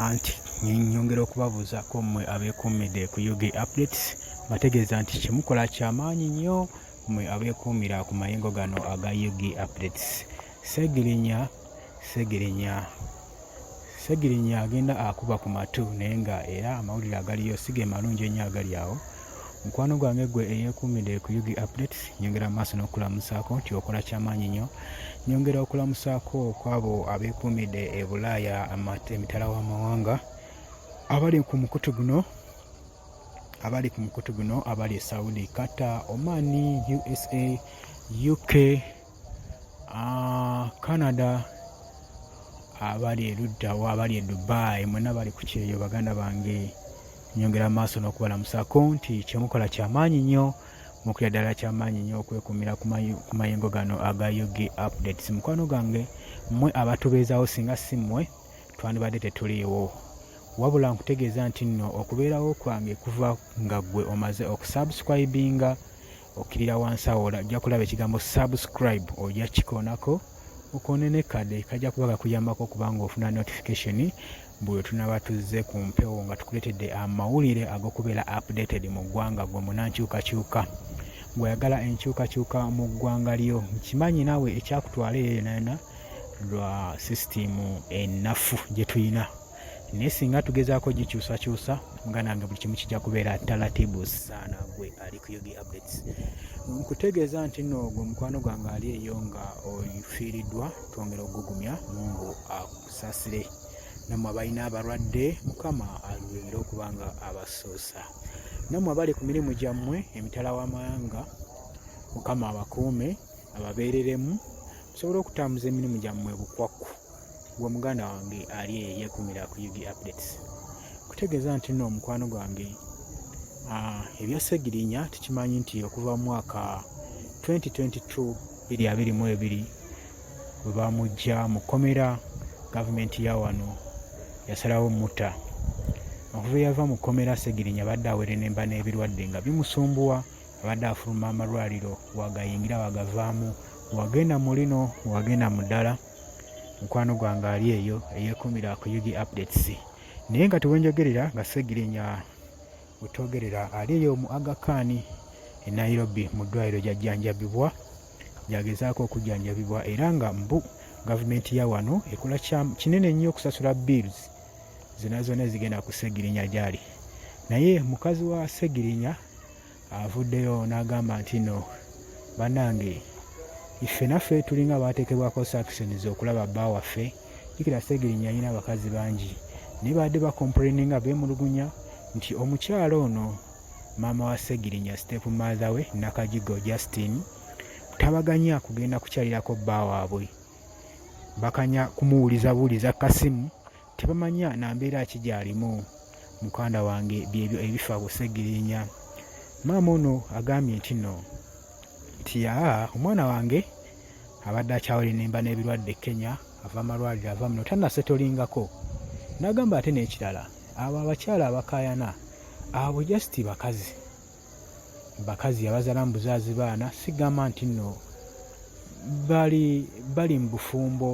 anti nyongera okubabuuzaako mmwe abeekuumidde ku ug updates bategeeza nti kyemukola kyamaanyi nnyo mmwe abeekuumira ku mayingo gano aga ug updates segirinya segirinya segirinya agenda akuba ku matu naye nga era amawulire agaliyo si ge malungi ennyo agali awo mukwano gwange gwe eyekuumidde ku ug updates nyongera amaaso n'okulamusaako nti okola kyamaanyi nnyo nyongera okulamusaako kwabo abeekuumidde e bulaaya emitala w'amawanga abali ku mukutu guno abali ku mukutu guno abali e saudi qatar omani usa uk Ah, Canada abali eruddawa abali e Dubai mwena bali ku kyeyo baganda bange nyongera maaso n'okubalamusako nti kyemukola kyamaanyi nnyo mukira ddala kyamaanyi nnyo okwekumira ku mayengo gano aga ug updates mukwano gange mmwe abatubeezawo singa si mmwe twandibadde tetuliiwo wabula nkutegeeza nti nno okubeerawo kwange kuva nga ggwe omaze okusubscribinga okkirira wansi awo ojja kulaba ekigambo subscribe ojja kikoonako okoone ne kade kajja kuba kakuyambako okuba nga ofuna notification buli tunaba tuzze ku mpewo nga tukuleetedde amawulire ag'okubeera updated mu ggwanga gwe munankyukakyuka ng'oyagala enkyukakyuka mu ggwanga lyo nkimanyi naawe ekyakutwala eyo yonayona lwa sisitimu ennafu gye tulina naye singa tugezaako gikyusakyusa muganda nga buli kimu kijja kubeera talatibu saana gwe ali ku yogi updates nkutegeeza nti no ogwo mukwano gwange ali eyo nga ofiiriddwa twongera okugugumya mungu akusasire namwe abalina abalwadde mukama alubimire okuba nga abasuusa namwe abali ku mirimu gyammwe emitala w'amawanga mukama abakuume ababeereremu musobole okutambuza emirimu gyammwe bukwakku gwe muganda wange ali eyo yekumira ku ug updates kutegeeza nti no omukwano gwange ah, ebya segirinya tukimanyi nti okuva mu mwaka 2022 biri abiri mu ebiri bwe bamujja mu kkomera gavumenti ya wano yasalawo mutta okuva eyava mu kkomera segirinya abadde awerenemba n'ebirwadde nga bimusumbuwa abadde afuluma amalwaliro wagayingira wagavaamu wagenda mu lino wagenda mu ddala mukwano gwange ali eyo eyekumira ku ug updates naye nga tewenjogerera nga segirinya wetogerera ali eyo mu agakaani e nairobi mu ddwaliro gyajjanjabibwa gyagezaako okujjanjabibwa era nga mbu gavumenti ya wano ekola kinene nnyo okusasula bills zona zona ezigenda ku segirinya gyali naye mukazi wa segirinya avuddeyo n'agamba nti no banange iffe naffe tulinga baatekebwako sanctions okulaba bba waffe jikira segirinya alina abakazi bangi naye baadde bakomplaininga beemulugunya nti omukyala ono maama wa segirinya step mother we nakajigo justin tabaganya kugenda kukyalirako bba waabwe bakanya kumuwuliza buwuliza kasimu tebamanya na mbeera ki gy'alimu mukanda wange byebyo ebifa busegirinya maama ono agambye nti no nti ya omwana wange abadde akyawere nemba n'ebirwadde kenya ava amalwaliro ava muno tanasetolingako nagamba ate n'ekirala abo abakyala abakayana abo just bakazi bakazi yabazala mubuzaazi baana sigamba nti nno bali bali mu bufumbo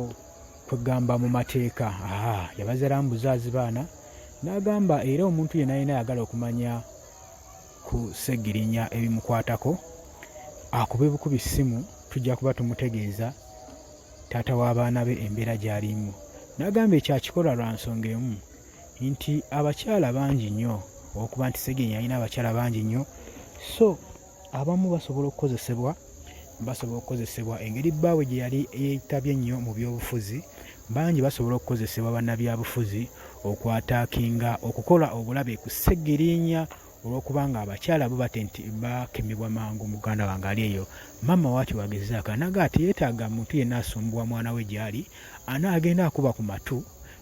kwegamba mu mateeka aa yabazala mubuzaazi baana n'agamba era omuntu yena yena ayagala okumanya ku segirinya ebimukwatako akube bukubi ssimu tujja kuba tumutegeeza taata w'abaana be embeera gy'alimu n'agamba ekyakikola lwa nsonga emu nti abakyala bangi nnyo okuba nti segenya alina abakyala bangi nnyo so abamu basobola okukozesebwa basobola okukozesebwa engeri bbaawe gye yali yetabye nnyo mu byobufuzi bangi basobola okukozesebwa bannabyabufuzi okwataakinga okukola obulabe ku segirinya olwokubanga abakyala bo bate nti bakemebwa mangu muganda wange ali eyo maama wakyo wagezaako anaga ati yeetaaga muntu yenna asumbuwa mwana we gyali ana agenda akuba ku matu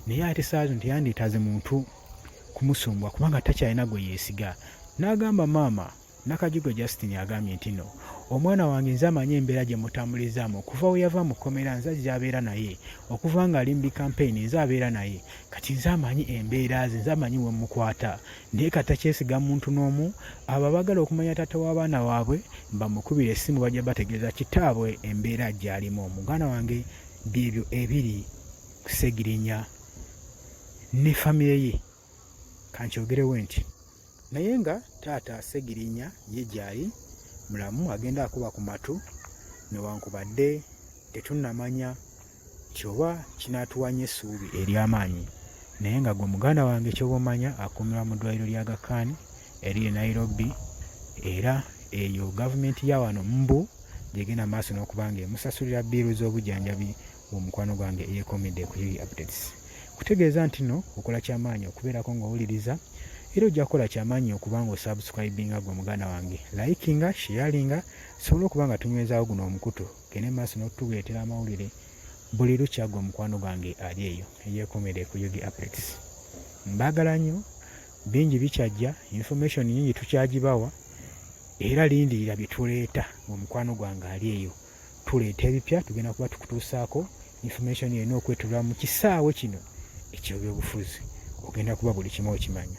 naye ate saazo nti yandeetaaze muntu kumusumbuwa kubanga takyalina gwe yeesiga n'agamba maama nakajugo justin agambye nti no omwana wange nze amanyi embeera gye mutambulizaamu okuva we yava mu kkomera nze ajja abeera naye okuva ng'ali mu bikampeyini nze abeera naye kati nze amanyi embeera ze nze amanyi we mukwata naye kati takyesiga muntu n'omu abo abagala okumanya taata w'abaana waabwe bamukubira essimu bajja bategeeza kitaabwe embeera gyalimu omuganda wange byebyo ebiri kusegirinya ne famire ye kankyogerewe nti naye nga taata segirinya ye gyali mulamu agenda akuba ku matu newankubadde tetunamanya Kyoba kinaatuwanya essuubi ery'amaanyi naye nga gwe muganda wange kyoba omanya akuumirwa mu ddwaliro lya Aga Khan eriri e Nairobi era eyo gavumenti ya wano mbu gyegenda mu maaso n'okuba ng'emusasulira bbiiru z'obujjanjabi bw'omukwano gwange eyeekomedde ku Uri Updates. Kutegeeza nti no okola ky'amaanyi okubeerako ng'owuliriza era ojja kukola ky'amaanyi okuba ng'osubscribinga gwe muganda wange, likinga, sharinga tusobole okuba nga tunywezaawo guno omukutu. gende maaso n'okutuleetera amawulire buli lukya gwe mukwano gwange ali eyo eyeekomera ekuyugi apex mbaagala nnyo bingi bikyajja information nyingi tukyagibawa era lindirira bye tuleeta gwe mukwano gwange ali eyo tuleeta ebipya tugenda kuba tukutuusaako information yonna okwetulwa mu kisaawe kino ekyebyobufuzi ogenda kuba buli kimu okimanya